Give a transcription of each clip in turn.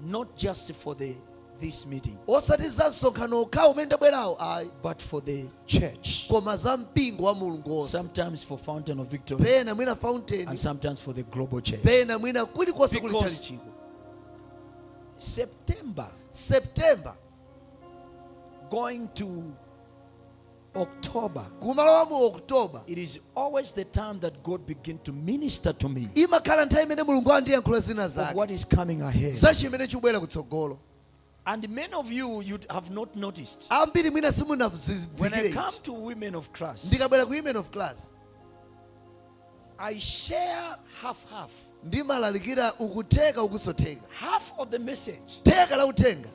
not just for the this meeting osati za msonkhano okhawo umene ndabwerawo ayi but for the church koma za mpingo wa mulungu onse sometimes for fountain of victory pena mwina fountain and sometimes for the global church pena mwina kulikonse kuli Because- chalichiko september september going to October. Kumalowa mu October. It is always the time that God begin to minister to me. Imakhala nthawi imene Mulungu andiyankhula zina zake. What is coming ahead? Za chimene chikubwera kutsogolo. And many of you you have not noticed. Ambiri mwina simunazindikire. When I come to women of class. Ndikabwera ku women of class. I share half half. ndimalalikira uku theka ukuso theka Half of the message theka la uthenga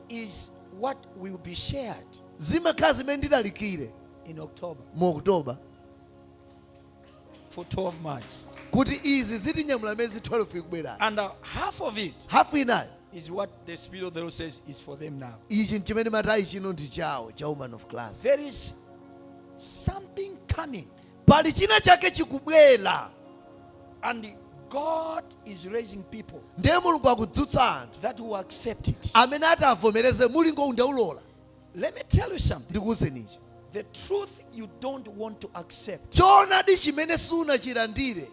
is what will be shared zimakhala zimene ndilalikire in October mu oktoba for 12 months. kuti izi zitinyamula miyezi 12 ikubwerayi And uh, half of it hafu inayo is what the Spirit of the Lord says is for them now. ichi nchimene amati ayi chino ndi chawo cha women of class There is something coming Pali china chake chikubwera. And God is raising people. Ndiye Mulungu akudzutsa anthu. That will accept it. Amene atavomereze mulingo uwu ndaulola. Let me tell you something. Ndikuuzeni ichi. The truth you don't want to accept. Choonadi chimene sunachilandire.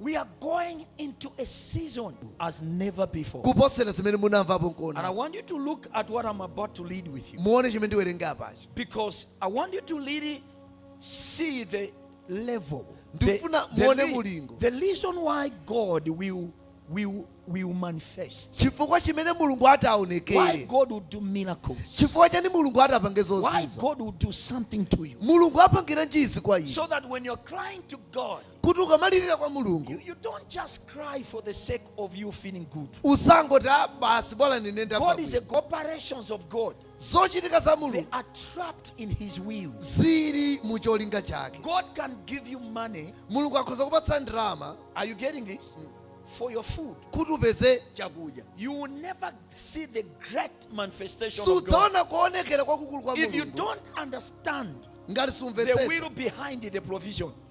We are going into a season as never before. kuposera zimene munamvapo And I nkuona want you to look at what I'm about to read with you. muone chimene ndiwerenge apachi Because I want you to really see the level. The, Ndifuna muone re- mulingo. the reason why God will, will, will manifest. chifukwa chimene mulungu Why ataonekere God will do miracles. chifukwa chani mulungu atapange Why zozizwa God will do something to you. mulungu apangiranji izi kwa iwe So that when you're crying to God, kuti ukamalirira kwa mulungu You, you don't just cry for the sake of you feeling good. usangoti "Ah, basi bola ninenda God is a pabwino." God. Operations of God, zochitika za they mulungu are trapped in His will. zili mu cholinga chake God can give you money. mulungu akhoza kupatsa ndalama Are you getting this? For your food. kuti upeze chakudya You will never see the great manifestation of God. sudzaona kuonekera kwakukulu kwa If you mulungu don't understand ngati the sumvetsetsa will behind the provision,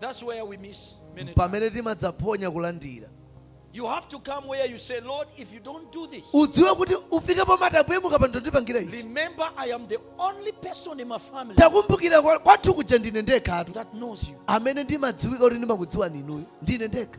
That's where we miss many times pamene timadzaphonya kulandira You have to come where you say, Lord, if you don't do this, udziwe kuti ufike pomati ambuye mukapanda ndipangira ichi remember I am the only person in my family takumbukira kwa- kwathu kuja ndine ndekhatu that knows you. amene ndimadziwika kuti ndimakudziwani inuyo ndine ndekha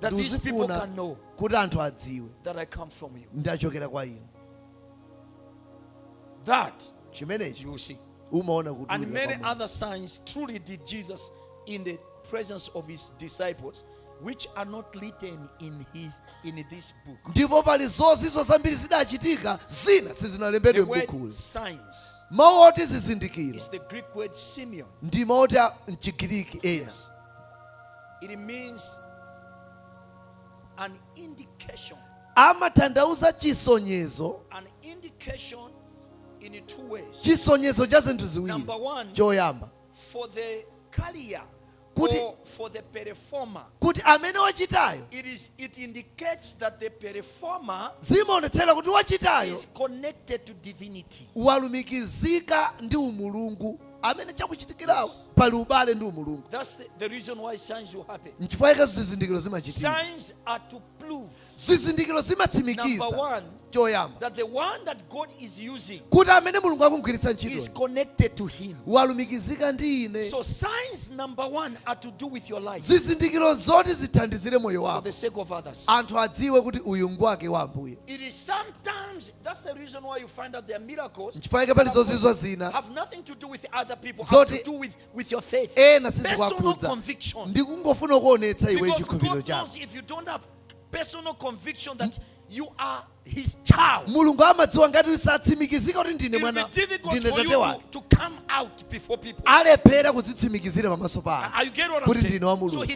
that these people ndikufuna can know kuti anthu adziwe that I come from you. ndachokera kwa inu That chimenechi you will see. umaona And ulira pa many Mulungu. other signs truly did Jesus in the presence of his disciples, which are not written in his in this book. ndipo pali zozizwa zambiri zidachitika zina The sizinalembedwe word m'bukhuli signs mawu oti zizindikiro is the Greek word Simeon. ndi mawu oti a mchigiriki ena It means an indication. amatanthauza chisonyezo An indication in two ways. chisonyezo cha zinthu ziwiri Number one. choyamba For the carrier Kuti- or for the performer, kuti amene wachitayo it is it indicates that the performer zimaonetsera kuti wachitayo is connected to divinity. walumikizika ndi umulungu amene chakuchitikirawo pali ubale ndi umulungu That's the, the reason why signs will happen. nchifukwa chake zizindikiro zimachitika Signs are to prove zizindikiro Number zimatsimikiza one, choyamba that the one that God is using kuti amene mulungu akumgwiritsa is ntchito connected to Him. walumikizika ndi ine So signs number one are to do with your life zizindikiro zoti zithandizire moyo for wako the sake of others. anthu adziwe kuti uyu ngwake wa ambuye It is sometimes Nchifukwa chake pali zozizwa zina zoti ena sizikuwakhudza ndi kungofuna kuonetsa iwe chikhulupiriro chako mulungu amadziwa ngati usatsimikizika kuti ndine mwana ndine tate wake alephera kudzitsimikizira pamaso pako kuti ndine wa mulungu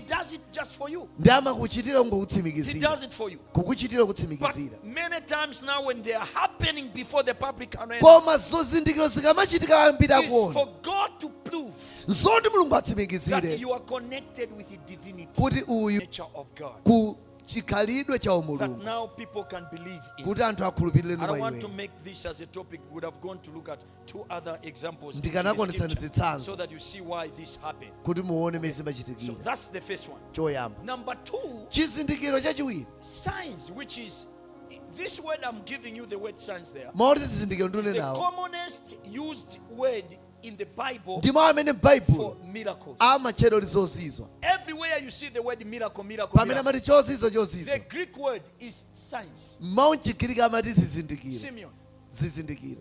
ndi amakuchitira kungokutsimikizira kukuchitira kutsimikizira. Koma zizindikiro zikamachitika ambiri akuona zoti mulungu atsimikizire kuti uyu ku chikhalidwe cha umulungu kuti anthu akhulupirire mwa iwe ndikanakuonetsani zitsanzo kuti muone mene zimachitikira choyamba chizindikiro chachiwiri This word I'm giving you the word signs there. Mawu oti zizindikiro ndili nawo. The commonest used word in the Bible ndi mawu amene m'baibulo amatchedwa zozizwa pamene amati chozizwa chozizwa mawu mchigiriki amati zizindikiro zizindikiro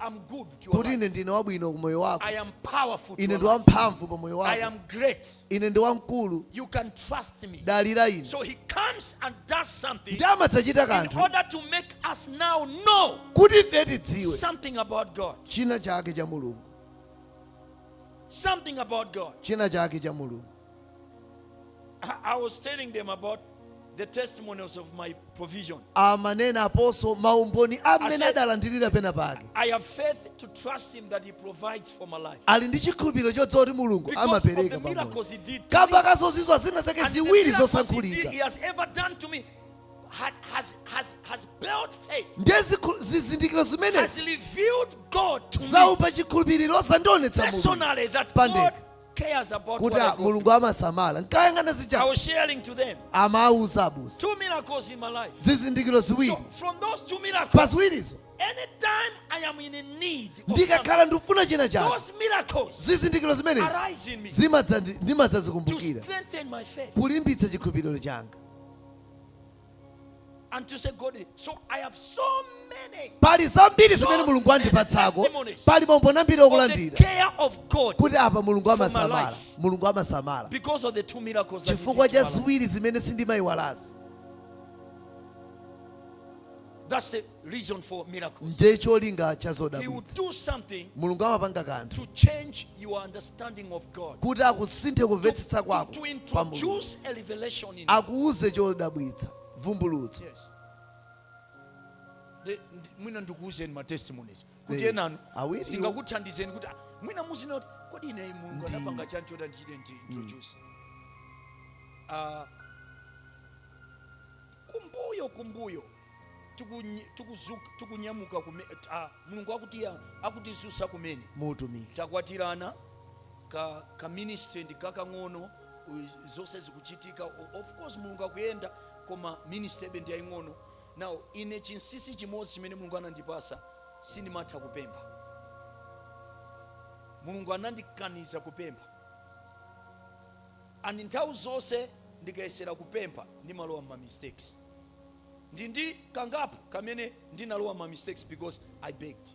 I'm good to your kuti life. ine ndine wabwino ku moyo wako I am powerful to ine your ndi life. wamphamvu pa moyo I wako am great. ine ndi wamkulu You can trust me. dalira ine So he comes and does something ndi amadzachita in kanthu order to make us now know kuti ife tidziwe something about God. china chake cha mulungu Something about God. china chake cha mulungu I, I was telling them about the testimonials of my provision. amanenaponso maumboni amene Ase- adalandirira penapake I have faith to trust Him that He provides for my life. ali ndi chikhulupiriro chodziwa kuti mulungu Because of the amapereka pamoyo miracles He did. to me. kamba ka zozizwa zina zake And the ziwiri miracles he, did, he zosankhulika has ever done to me had, has, has, has built faith, ndiye zikhu- zizindikiro has zimenezi revealed God to me zautsa chikhulupiriro zandionetsa mulungu personally that God pandekha. cares about kuti what I a- go mulungu through. amasamala nkayang'ana I zija was sharing to them amawauza abusa two miracles in my life. zizindikiro So ziwiri from those two miracles, pa ziwirizo anytime I am in a need, of something, ndikakhala ndikufuna china chake those miracles zizindikiro zimenezi arise in me to zimadzandi- ndimadzazikumbukira strengthen my faith. kulimbitsa chikhulupiriro changa And to say, God, so I have so many pali zambiri zimene mulungu andipatsako pali maumboni ambiri okulandira kuti apa mulungu amasamala mulungu amasamala chifukwa cha ziwiri zimene sindimayiwalazi Ndiye cholinga cha zodabwitsa. Mulungu amapanga kanthu kuti akusinthe kumvetsetsa kwako pa Mulungu, akuuze chodabwitsa, vumbulutso. Mwina ndikuuzeni ma testimonies kuti enanu zingakuthandizeni kuti ah, mwina muzina kuti kodi ine Mulungu anapanga chani choti ndichite ndi mm. introduce ah, kumbuyo kumbuyo tikunye- tikuzuka- tikunyamuka kume- ah, mulungu akuti akutidzutsa kumene muutumiki takwatirana ka, ka ministry ndi kakang'ono u- zonse zikuchitika O- of course mulungu akuyenda koma ministry idebe ndi yaying'ono now ine chinsisi chimodzi chimene mulungu anandipatsa sindimatha kupempha mulungu anandikaniza kupempha And nthawi zonse ndikayesera kupempha ndimalowa mma mistakes. Ndi ndi kangapo kamene ndinalowa mma mistakes because I begged.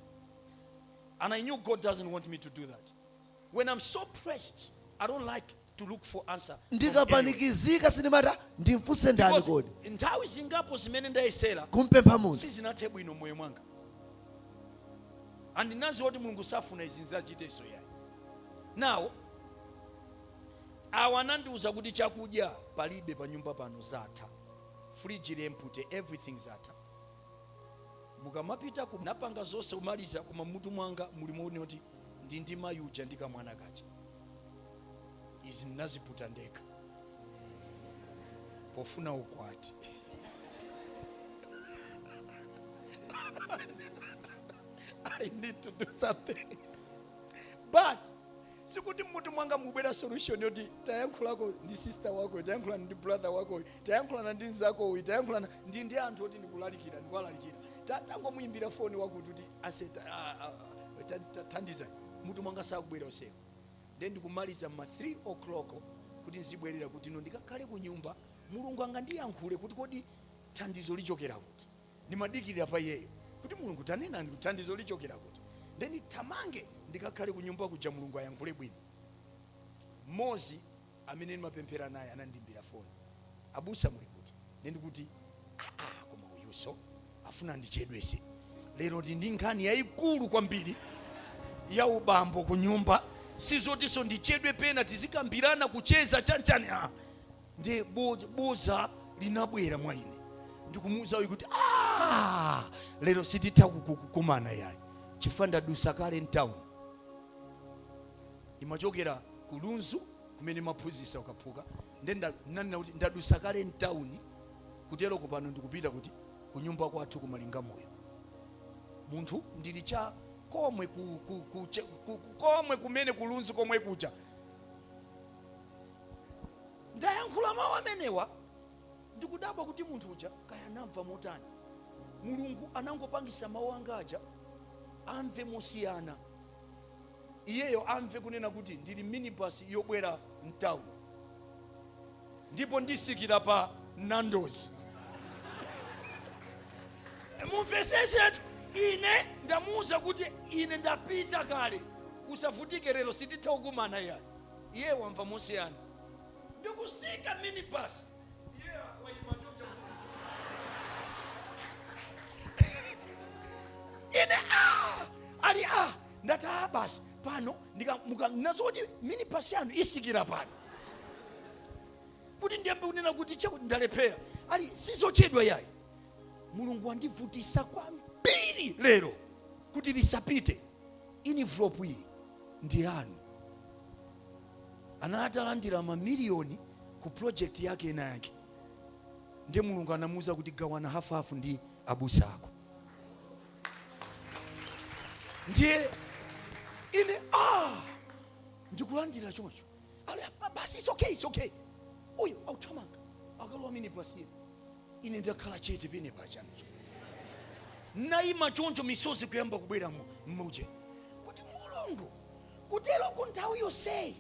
And I knew God doesn't want me to do that. When I'm so pressed, I don't like to look for answer. from anyone. ndikapanikizika sindimati ndimfunse ndani Because kodi nthawi zingapo zimene ndayesera kumpempha munthu sizinathe bwino mmoyo mwanga and n'nadziwa kuti mulungu safuna izi ndzachitenso yayi now awa anandiuza kuti chakudya palibe panyumba pano zatha fridge ili empty everything zatha mukamapitako napanga zonse kumaliza koma mmutu mwanga muli muone kuti ndi ndi mayi uja ndi kamwana kaja izi ndinaziputa ndekha pofuna ukwati I need to do something. But sikuti mmutu mwanga mubwera solution yoti tayankhulako ndi sister wako tayankhulana ndi brother wako tayankhulana ndi mzako uyo tayankhulana ndi ndi anthu oti ndikulalikira ndikuwalalikira Ta- tangomuyimbira foni wakuti kuti ase ta- a- a- a- ta- ta- thandiza mutu mwanga sakubwera usiku then ndikumaliza ma 3 o'clock kuti nzibwerera kuti no ndikakhale ku nyumba mulungu angandiyankhule kuti kodi thandizo lichokera kuti ndimadikirira pa iyeyo kuti mulungu tanenani thandizo lichokera kuti nde ndithamange ndikakhale kunyumba kuja mulungu ayankhule bwino mmozi amene ndimapemphera naye anandimbira foni abusa muli kuti nde ndikuti aa koma uyuso afuna ndichedwese lero ndi ndi nkhani yayikulu kwambiri ya ubambo kunyumba sizotiso ndichedwe pena tizikambirana kucheza chanichani ah. ndi boza linabwera mwa ine ndikumuuza uyu kuti ah, lero sititha kukumana yayi chifukwa ndadusa kale mtawuni ndimachokera ku lunzu kumene ndimaphunzisa ukaphuka nde nanena kuti ndadusa kale mtawuni kuteroko pano ndikupita kuti kunyumba kwathu kumalinga moyo munthu ndili cha komwe ku, ku, ku, ku, komwe kumene kulunzu komwe kuja ndayankhula mawu amenewa ndikudabwa kuti munthu uja kaya anamva motani mulungu anangopangisa mawu anga aja amve mosiyana iyeyo amve kunena kuti ndili mminibus yobwera mtauni ndipo ndisikira pa nandozi mumvesesetu ine ndamuwuza kuti ine ndapita kale usavutike lero sititha kukumana yayi iye wamva mosiyana ndikusika minibus iye waima chonja ine ah, ali ah, ndati ah, basi pano ndika- muka- ndinamva zoti minibus yanu isikira pano kuti ndiyambe kunena kuti chakuti ndalephera ali sizochedwa yayi mulungu wandivutisa kwambiri lero kuti lisapite Inivulopu iyi ndi yanu. Anali atalandira mamiliyoni ku project yake ina yake, ndiye Mulungu anamuuza kuti gawana hafuhafu ndi abusa ako. Ndiye ine ah, ndikulandira choncho Ali, ba- basi it's okay it's okay uyo authamanga akalowa minibus iye ine ndakhala chete pene pachani naima choncho misozi kuyamba kubwera mu- mmuje kuti mulungu kuteroko nthawi yonseyi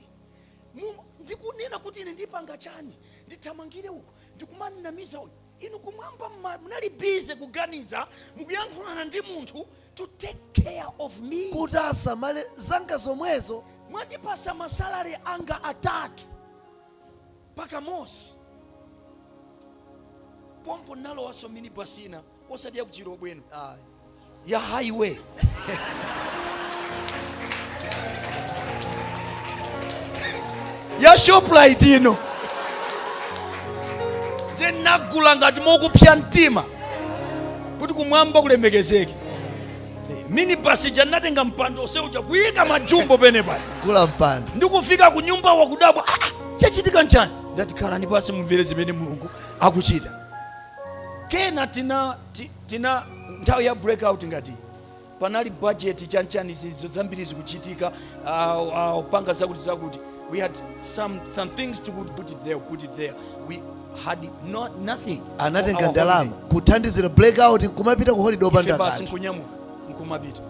mu- ndikunena kuti ine ndipanga chani ndithamangire uko ndikumanamiza uyu inu kumwamba mma- munali bize kuganiza mukuyankhulana ndi munthu to take care of me kuti asamale za anzanga zomwezo mwandipasa masalari anga atatu pakamozi pompo nalowaso minibasi ina osati ya ku Chilobwe ayi ya highway ya shoprite ino nde nagula ngati mokupsa mtima kuti kumwamba kulemekezeke minibasi ija natenga mpando oseuja kuyika majumbo pene pali gula mpando ndikufika ku nyumba wakudabwa "Ah, ah, chachitika nchani ndati khalani pasi mumvere zimene mulungu akuchita kenako tina ti- Tina nthawi ya break out ngati iyi, panali budget chanchani zinthu zambiri zikuchitika awo awo panga zakuti zakuti we had some some things to put, put it there put it there we had not nothing anatenga Our ndalama holiday. kuthandizira blackout nkumapita ku holiday ife opanda basi kanthu nkunyamuka nkumapita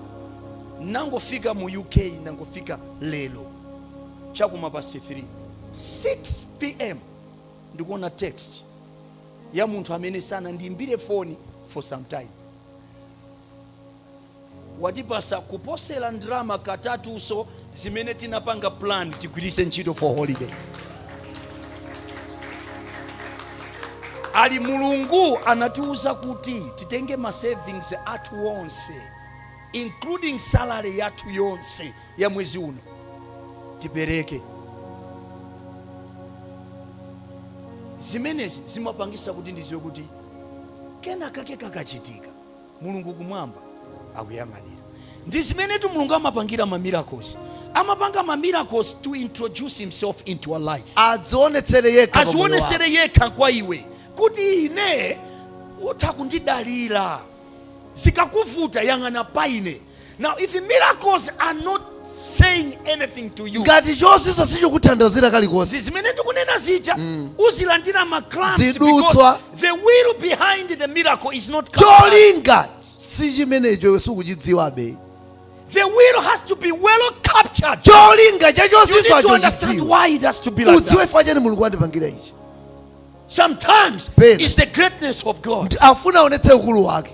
nangofika mu uk nangofika lero chakuma past 3 6 pm ndikuona text ya munthu amene sanandiimbire foni for some time. Watipasa kuposera ndrama katatuso zimene tinapanga plan tigwirise ntchito for holiday. Ali Mulungu anatiuza kuti titenge ma savings athu onse including salary yathu yonse ya mwezi uno tipereke zimenezi zimapangisa kuti ndiziwe kuti kena kake kakachitika mulungu kumwamba akuyang'anira ndi zimenetu mulungu amapangira ma miracles amapanga ma miracles to introduce himself into our life adzionetsere yekha pamoyo wako. azionesere yekha kwa iwe kuti ine utha kundidalira zikakuvuta yang'ana pa ine Now, if miracles are not saying anything to you, ngati chozizwa sichikuthandizira kalikonse zimene tikunena zija mm. uzilandira ma crumbs because the will behind the miracle is not cholinga si chimenecho iwe sukuchidziwabe The will has to be well captured. Cholinga cha chozizwa chochidziwa. Udziwe chifukwa chani Mulungu wandipangira ichi. Sometimes it's the greatness of God. Afuna aonetse ukulu wake.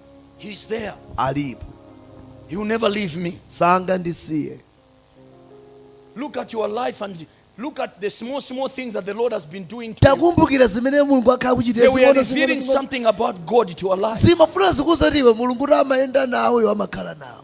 He's there. alipo He will never leave me. sangandisiye Look at your life and look at the small, small things that the Lord has been doing to you. takumbukira zimene mulungu akhala They kuchitira were zing'ono revealing zing'ono zing'ono. something about God to your life. zimafuna zikuuze kuti iwe mulungu kuti amayenda nawe iwe amakhala nawe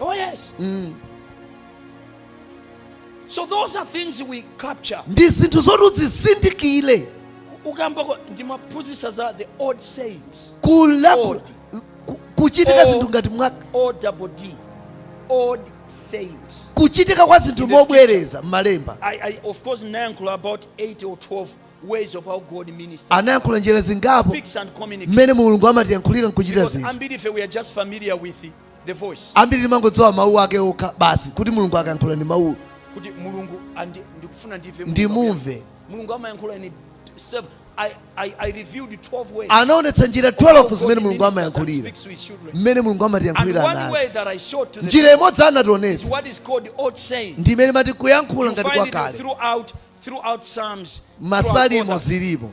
Oh, yes. Mm. So those are things we capture. ndi zinthu zoti udzizindikire ndikamba kuti ndimaphunzitsa za the odd sayings kulankhula ku- kuchitika Oh. zinthu ngati mwa o double d odd sayings kuchitika kwa zinthu It is mobwereza m'malemba I, I of course ndinayankhula about 8 or 12 anayankhula njira zingapo mmene mulungu amatiyankhulira ndi kuchita zinthu ambiri timangodziwa mawu ake okha basi kuti mulungu akayankhula ndi mawuwo kuti mulungu ndikufuna ndimve ndimumve mulungu amayankhula ndi anaonetsa njira 12 zimene mulungu amayankhulira mmene mulungu amatiyankhulira and njira imodzi anationetsa ndi imene mati kuyankhula ngati kwakale M'masalimo zilipo.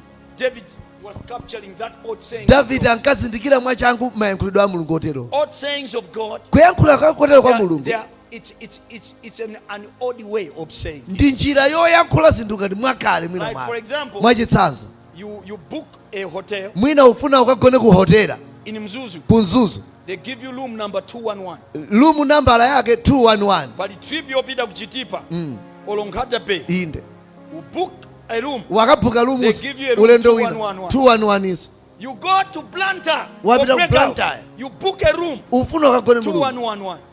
Davide ankazindikira mwachangu mayankhulidwe a Mulungu oterowo. Kuyankhula kwakotero kwa Mulungu ndi njira yoyankhula zinthu ngati mwakale mwinamwake. Mwachitsanzo. You, you book a hotel. Mwina ufuna ukagone ku hotela. In Mzuzu. Ku Mzuzu. They give you room number 211. Room number yake 211. Pali trip yopita ku Chitipa. Mm. Olonkhata Bay. Inde. You book a room. Wakabuka room. They give you a room 211. 211 izo. You go to Blantyre. Wapita ku Blantyre. You book a room. Ufuna ukagone mu room. 211.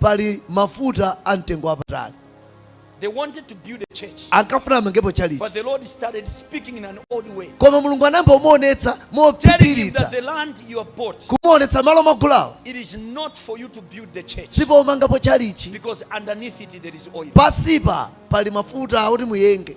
Pali mafuta a mtengo wapatali. They wanted to build a church. Ankafuna amangepo chalichi. But the Lord started speaking in an odd way. Koma Mulungu anayamba kumuonetsa mophiphiritsa. The land you have bought. Kumuonetsa malo mwagulawo. It is not for you to build the church. Sipomangapo chalichi. Because underneath it there is oil. Pasipa pali mafuta oti muyenge.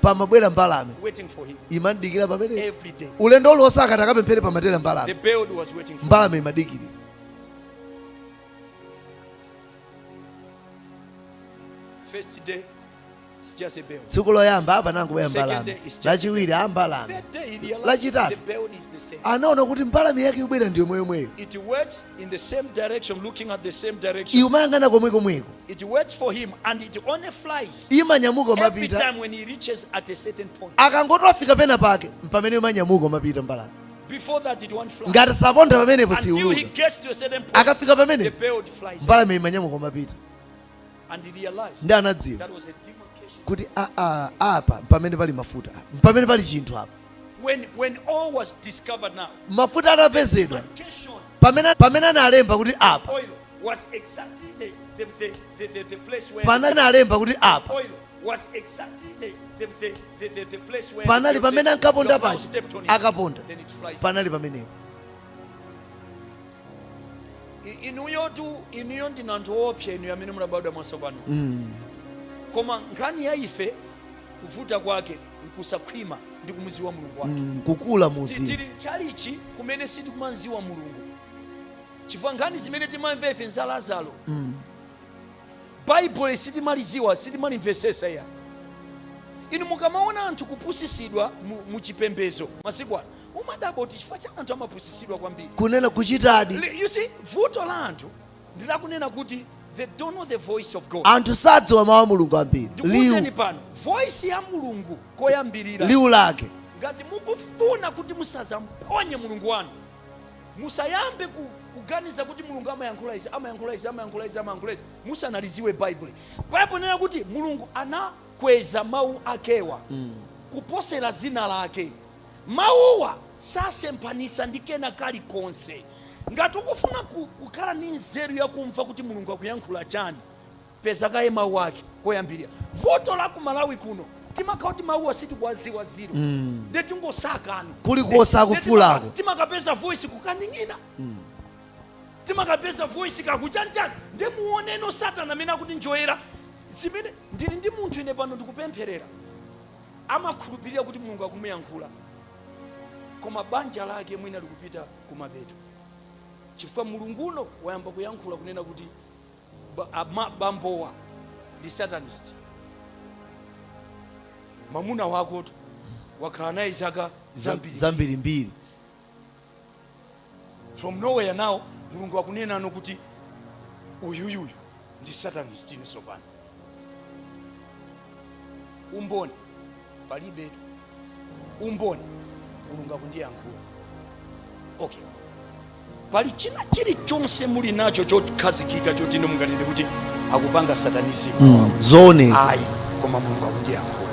pamabwera mbalame imamudikira pamene ulendo uliwonse akati akapemphere pamatera mbalame mbalame imadikirira tsiku loyamba apa panangobwera mbalame lachiwiri a mbalame lachitatu anaona kuti mbalame yake ikubwera ndi yomweyomweyo imayang'ana komwekomweko It works for him and it only flies imanyamuka every n'kumapita time when he reaches at a certain point. akangoti wafika pena pake mpamene imanyamuka n'kumapita mbalame Before that, it won't fly. ngati sanaponde pamenepo Until he siiuluka gets to a certain point, akafika the pamenepo bird flies up mbalame imanyamuka n'kumapita and he realized ndi anadziwa that was a demarcation. kuti "Ah, ah, apa mpamene pali mafuta apa mpamene pali chinthu apa When, when oil was discovered now, mafuta atapezedwa pamene pamene analemba kuti apa panali analemba kuti apa panali pamene ankaponda paja akaponda panali pamenepo inuyotu inuyo ndinu anthu oopsa inuyo amene munabadwa mwatsopano mm. koma nkhani ya ife kuvuta kwake nkusakhwima ndi kumuziwa mulungu wathu mm, kukula muzimu tili mchalichi kumene sitikumamziwa mulungu chifukwa nkhani zimene timamva ife nza lazaro mm. baibulo sitimaliziwa sitimalimvesesa ya inu mukamaona anthu kupusisidwa mu- mu chipembezo masiku ano umadabwa kuti chifukwa chani anthu amapusisidwa kwambiri kunena kuchitadi you see vuto la anthu ndi lakunena kuti they don't know the voice of God. anthu sadziwa mawu a mulungu ambiri liwu Ndikuwuzeni pano voice ya mulungu koyambirira liwu lake ngati mukufuna kuti musazamuphonye mulungu wanu musayambe ku, kuganiza kuti mulungu amayankhula izi amayankhula izi amayankhula izi amayankhula izi musanaliziwe baibulo baibulo inena kuti mulungu anakweza mawu akewa kuposera zina lake Mawuwa sasemphanitsa ndi kena kalikonse. Ngati ukufuna ku kukhala ndi nzeru ya kumva kuti Mulungu akuyankhula chani, peza kaye mawu ake koyambilira. Vuto la ku Malawi kuno timakhala kuti mawuwa sitikuwadziwa ziro nde tingosakanu Kulikonse kosakufulako. timakapeza voice kukaning'ina timakapeza voice kakuchanchani nde muoneni satana amene akutinjoyera zimene ndili ndi munthu ine pano ndikupempherera amakhulupirira kuti Mulungu akumuyankhula, koma banja lake mwina likupita kumapeto chifukwa mulungu uno wayamba kuyankhula kunena kuti bambowa ndi satanist. Mamuna wakotu wakhala naye zaka zambirimbiri. from nowhere now mulungu akunenano kuti uyuyuyu ndi satanist ino sopano umboni palibetu umboni mulungu akundiyankhula okay pali china chilichonse muli nacho chokhazikika choti inu munganene kuti akupanga satanizimu Mm, zooneka ayi koma mulungu akundiyankhula